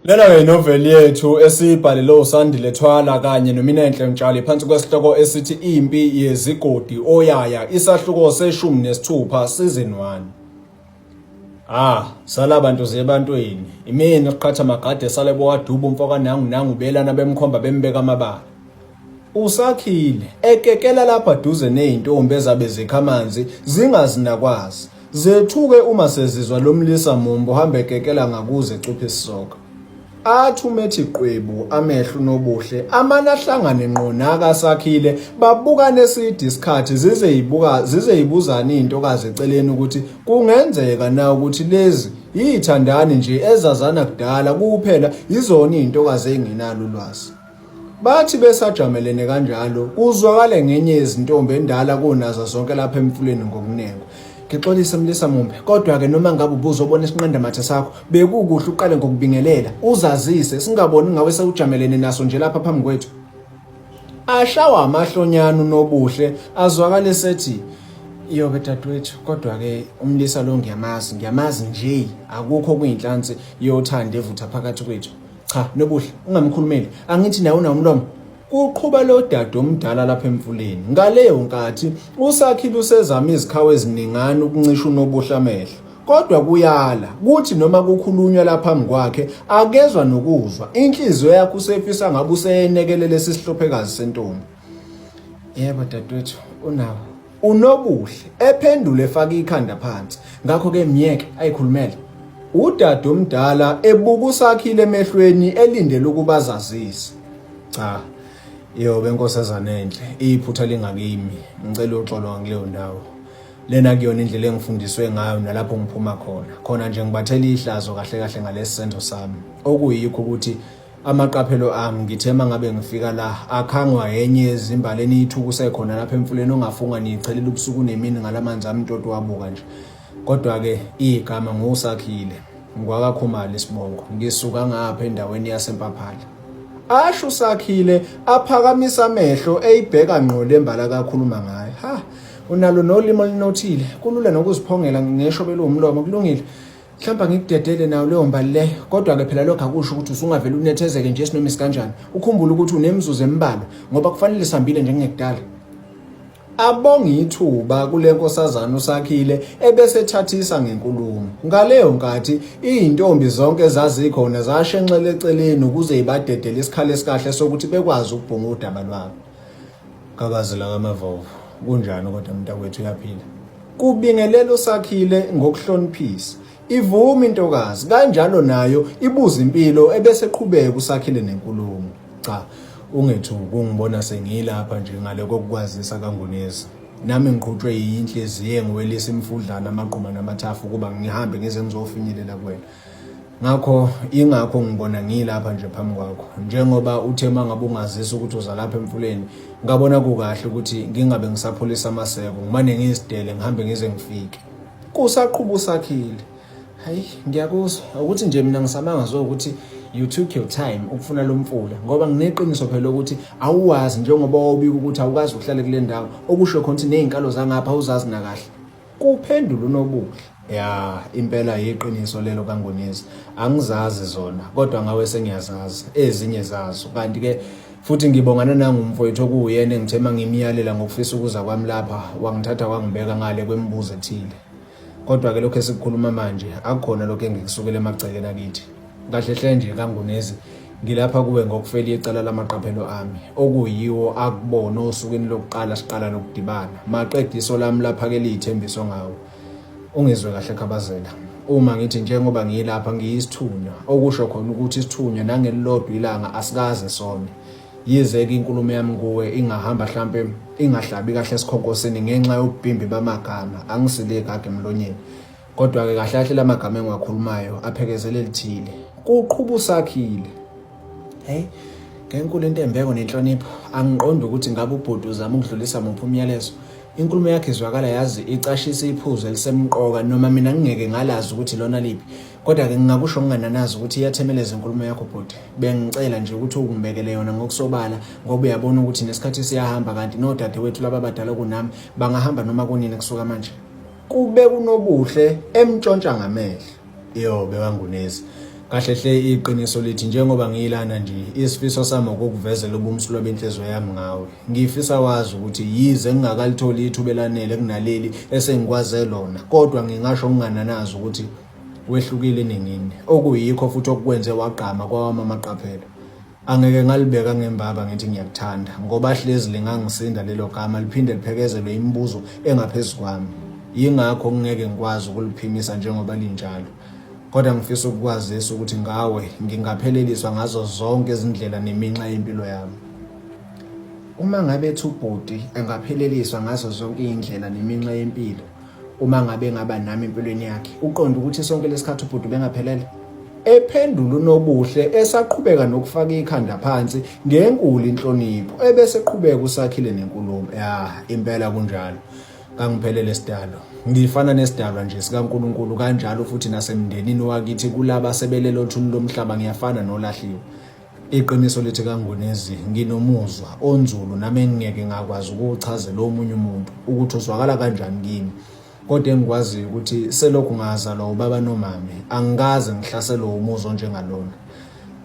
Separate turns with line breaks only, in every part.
Lena-ke inoveli yethu esiyibhalele uSandile Thwala kanye noMinenhle Mtshali phansi kwesihloko esithi Impi Yezigodi Oyaya isahluko seshumi nesithupha season 1. Ah, sala bantu zebantwini. Imini qhatha magade sale bowaduba umfoka nangu nangu belana bemkhomba bembeka amabala. Usakhile ekekela lapha duze nezintombi ezabe zikha amanzi zingazinakwazi. Zethuke uma sezizwa lomlisa mumbo hambe ekekela ngakuze cuphe isisoka. Athi umethi qwebu amehlo nobuhle amana ahlangane ngqo naka sakhile babukane eside isikhathi zize yibuka zize yibuzani intokazi eceleni ukuthi kungenzeka na ukuthi lezi yithandani nje ezazana kudala kuphela yizona izintokazi enginalo ulwazi. Bathi besajamelene kanjalo kuzwakale ngenye yezintombi endala kunazo zonke lapha emfuleni ngokunengo. Ngixolise Mlisa Mumbe, kodwa-ke noma ngabe ubuzobona isinqandamathe sakho, bekukuhle uqale ngokubingelela, uzazise, singaboni ngawe sewujamelene naso nje lapha phambi kwethu. Ashawa amahlonyana uNobuhle, azwakale esethi, Yoke dadwethu kodwa-ke umlisa lo ngiyamazi ngiyamazi nje akukho kuyinhlansi yothando evutha phakathi kwethu cha nobuhle ungamkhulumeli angithi nawe unomlomo Kuqhuba lo dade omdala lapha emfuleni. Ngaleyo nkathi uSakhile usezama izikhawu eziningana ukuncisha uNobuhle amehlo. Kodwa kuyala kuthi noma kukhulunywa laphambi kwakhe akezwa nokuzwa. Inhliziyo yakhe usefisa ngabe useyenekelela esihlophekazi sentombi. Yebo dadewethu unawo uNobuhle ephendula efaka ikhanda phansi ngakho ke myeke ayikhulumele udade omdala ebuka usakhile emehlweni elindele ukuba azazise cha yobe nkosazana enhle iphutha lingakimi ngicela uxolo ngileyo ndawo lena kuyona indlela engifundiswe ngayo nalapho ngiphuma khona khona nje ngibathela ihlazo kahle kahle ngalesi senzo sami okuyikho ukuthi Amaqaphelo ami ngithe mangabe ngifika la akhangwa yenye yezimbali eniyithukuse khona lapha emfuleni ongafunga niyichelela ubusuku nemini ngalamanzi ami ntoto wabuka nje kodwa ke igama ngosakhile ngwakakhumali sibongo ngisuka ngapha endaweni yasempaphala asho usakhile aphakamisa amehlo eyibheka ngqo lembala kakhuluma ngayo ha unalo nolimo linothile kulula nokuziphongela ngesho belomlomo kulungile mhlawumbe ngikudedele nayo leyo mbali le kodwa-ke phela lokho akusho ukuthi usungavele unethezeke nje sinoma isikanjani ukhumbule ukuthi unemizuzu embalwa ngoba kufanele sihambile njengekudala abonga ithuba kule nkosazana usakhile ebesethathisa ngenkulumo ngaleyo nkathi izintombi zonke zazikhona zashenxele eceleni ukuze ibadedele isikhala esikahle sokuthi bekwazi ukubhunga udaba lwabo Gabazela ngamavovo kunjani kodwa mntakwethu uyaphila kubingelela usakhile ngokuhloniphisa ivuma intokazi kanjalo nayo ibuza impilo ebese qhubeka usakhile nenkulumo cha ungethu kungibona sengilapha nje ngale kokukwazisa kangunezi nami ngiqhutshwe yinhliziyo engiwelisa imfudlana amagquma namathafu ukuba ngihambe ngize ngizofinyelela kuwena ngakho ingakho ngibona ngilapha nje phambi kwakho njengoba uthe uma ngabe ungazisa ukuthi uza lapha emfuleni ngabona kukahle ukuthi ngingabe ngisaphulisa amaseko ngimane ngizidele ngihambe ngize ngifike kusaqhuba usakhile hayi ngiyakuzwa ukuthi nje mina ngisamanga zwe ukuthi you took your time ukufuna lo mfula ngoba ngineqiniso phela ukuthi awuwazi njengoba wawubika ukuthi awukazi ukuhlale kule ndawo okusho khona ukuthi ney'nkalo zangapha awuzazi nakahle Kuphendula uNobuhle. Ya impela yiqiniso lelo kaNgonizi angizazi zona kodwa ngawe sengiyazazi ezinye zazo kanti ke futhi ngibongana nangumfowethu okuwuyena engithe mangimyalela ngokufisa ukuza kwami lapha wangithatha wangibeka ngale kwemibuzo ethile kodwa ke lokho esikukhuluma manje akukhona lokho engikusukele emagcekeni akithi Kahle hle nje kaNgunezi ngilapha kuwe ngokufeli icala lamaqaphelo ami okuyiwo akubona osukwini lokuqala siqala lokudibana maqeda iso lami laphakela iy'thembiso ngawo ungizwe kahle khabazela uma ngithi njengoba ngiyilapha ngiyisithunywa okusho khona ukuthi isithunywa nangelilodwa ilanga asikaze sone yize-ke inkulumo yami kuwe ingahamba hlampe ingahlabi kahle esikhonkosini ngenxa yobubhimbi bamagama angisilekage emlonyeni Kodwa-ke kahle kahle la magama engiwakhulumayo aphekezele lithile. Kuqhuba usakhile. Hey, ngenkulu intembeko nenhlonipho, angiqondi ukuthi ngabe ubhuti uzama ukudlulisa muphi umyalezo. Inkulumo yakhe izwakala yazi icashisa iphuzu elisemqoka noma mina ngingeke ngalazi ukuthi lona liphi. Kodwa-ke ngingakusho ngingananazi ukuthi iyathemeleza inkulumo yakho bhuti. Bengicela nje ukuthi ukungibekele yona ngokusobala ngoba uyabona ukuthi nesikhathi siyahamba kanti nodadewethu laba badala kunami bangahamba noma kunini kusuka manje. kube unobuhle emtshontsha ngamehlo yo bekangunezi kahle hle iqiniso lithi njengoba ngiyilana nje isifiso sami ukukuvezela ubumsulwa benhliziyo yami ngawe ngifisa wazi ukuthi yize ngingakalitholi ithuba elanele kunaleli esengikwaze lona kodwa ngingasho ngingananazi ukuthi wehlukile ningini okuyikho futhi okwenze wagqama kwawama amaqaphela Angeke ngalibeka ngembaba ngithi ngiyakuthanda ngoba hlezi lingangisinda lelo gama liphinde liphekezelwe imibuzo engaphezu kwami. Yingakho ngingeke ngikwazi ukuliphimisa njengoba linjalo. Kodwa ngifisa ukukwazisa ukuthi ngawe ngingapheleliswa ngazo zonke izindlela neminxa yempilo yami. Uma ngabe ethi ubhuti engapheleliswa ngazo zonke iy'ndlela neminxa yempilo uma ngabe ngaba nami empilweni yakhe uqonda ukuthi sonke lesikhathi ubhuti bengaphelele ephendula unobuhle esaqhubeka nokufaka ikhanda phansi ngenkulu inhlonipho ebese qhubeka usakhile nenkulumo ya impela kunjalo kangiphelele sidalo ngifana nesidalwa nje sikaNkuluNkulu kanjalo futhi nasemndenini wakithi kulaba sebelelo thuni lomhlaba ngiyafana nolahliwe Iqiniso lithi kaNgwinizi nginomuzwa onzulu nami engingeke ngakwazi ukuwuchazela omunye umuntu ukuthi uzwakala kanjani kimi kodwa engikwaziyo ukuthi selokhu ngazalwa ubaba nomame angikaze ngihlaselwe umuzwa onjengalona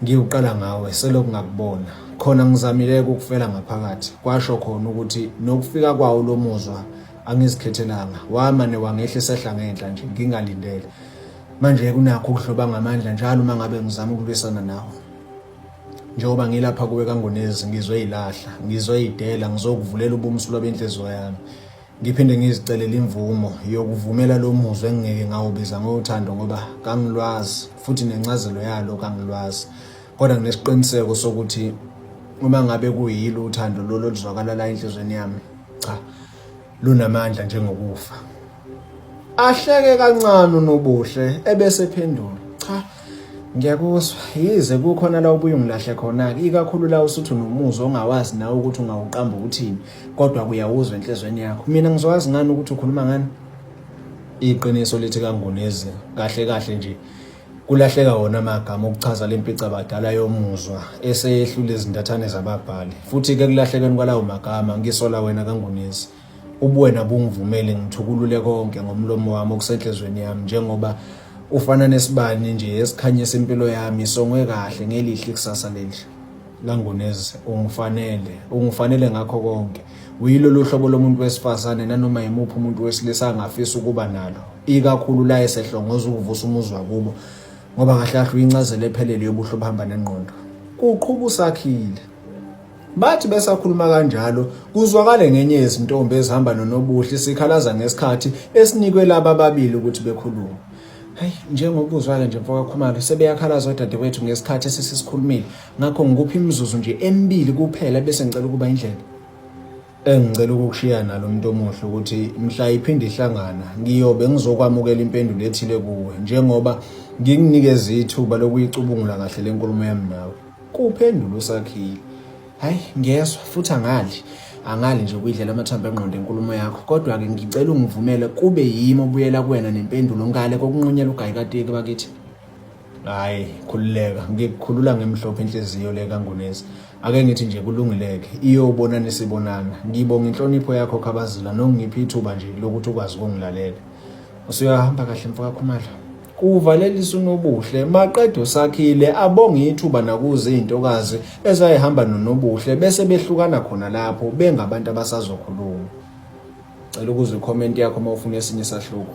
ngiwuqala ngawe selokhu ngakubona khona ngizamile ukufela ngaphakathi kwasho khona ukuthi nokufika kwawo lo muzwa angizikhethelanga wamane wangehlisa ehla ngenhla nje ngingalindele Manje kunakho ukuhloba ngamandla njalo uma ngabe ngizama ukulwisana nawe. Njengoba ngilapha kuwe kangonezi ngizwe ilahla, ngizwe idela, ngizokuvulela ubumsulo benhliziyo yami. Ngiphinde ngizicelele imvumo yokuvumela lo muzwa engingeke ngawubiza ngothando ngoba kangilwazi futhi nencazelo yalo kangilwazi. Kodwa nginesiqiniseko sokuthi uma ngabe kuyilo uthando lolo luzwakala la enhlizweni yami. Cha. Lunamandla njengokufa. Ahleke kancane uNobuhle ebese phendula. Cha. Ngiyakuzwa. Yize kukhona la ubuye ungilahle khona ke ikakhulu la usuthu nomuzwa ongawazi nawe ukuthi ungawuqamba ukuthini kodwa kuyawuzwa enhlizweni yakho. Mina ngizokwazi ngani ukuthi ukhuluma ngani? Iqiniso lithi kangunezi kahle kahle nje Kulahleka wona amagama okuchaza le mpica badala yomuzwa eseyehlula izintathane zababhali. Futhi ke kulahlekeni kwalawo magama ngisola wena kangunisi. Ubuwena bungivumele ngithukulule konke ngomlomo wami okusenhlizweni yami njengoba ufana nesibani nje esikhanyisa impilo yami songwe kahle ngelihle ikusasa lelihle. Langunez ungifanele ungifanele ngakho konke uyilolu hlobo lomuntu wesifazane nanoma yimuphi umuntu wesilisa angafisa ukuba nalo ikakhulu la esehlongoza ukuvusa umuzi wakubo ngoba kahle kahle uyincazelo ephelele yobuhle obuhamba nengqondo kuqhuba usakhile bathi besakhuluma kanjalo kuzwakale ngenye yezintombi ezihamba nonobuhle sikhalaza ngesikhathi esinikwe laba babili ukuthi bekhulume Hayi njengoba uzwake nje mfoka Khumalo sebeyakhalaza odadewethu ngesikhathi esesisikhulumile ngakho ngikuphi imizuzu nje emibili kuphela bese ngicela ukuba indlela engicela ukukushiya nalo muntu omuhle ukuthi mhla iphinde ihlangana ngiyobe ngizokwamukela impendulo ethile kuwe njengoba ngikunikeza ithuba lokuyicubungula kahle lenkulumo yami nawe kuphendula usakhile hayi ngiyezwa futhi angali angali nje ukuyidlela amathambo engqondo enkulumo yakho kodwa-ke ngicela ungivumele kube yimi obuyela kuwena nempendulo ngale kokunqunyela ugayikateki bakithi hayi khululeka ngikukhulula ngemhlophe inhliziyo le kangunesi ake ngithi nje kulungileke iyobona nisibonana ngibonga inhlonipho yakho khabazila nokungiphi ithuba nje lokuthi ukwazi ukungilalela usuyahamba kahle mfokakhumalo Kuvalelisa uNobuhle maqede uSakhile abonge ithuba nakuze izintokazi ezayihamba noNobuhle bese behlukana khona lapho bengabantu abasazokhuluma. Cela ukuze comment yakho uma ufuna esinye isahluko.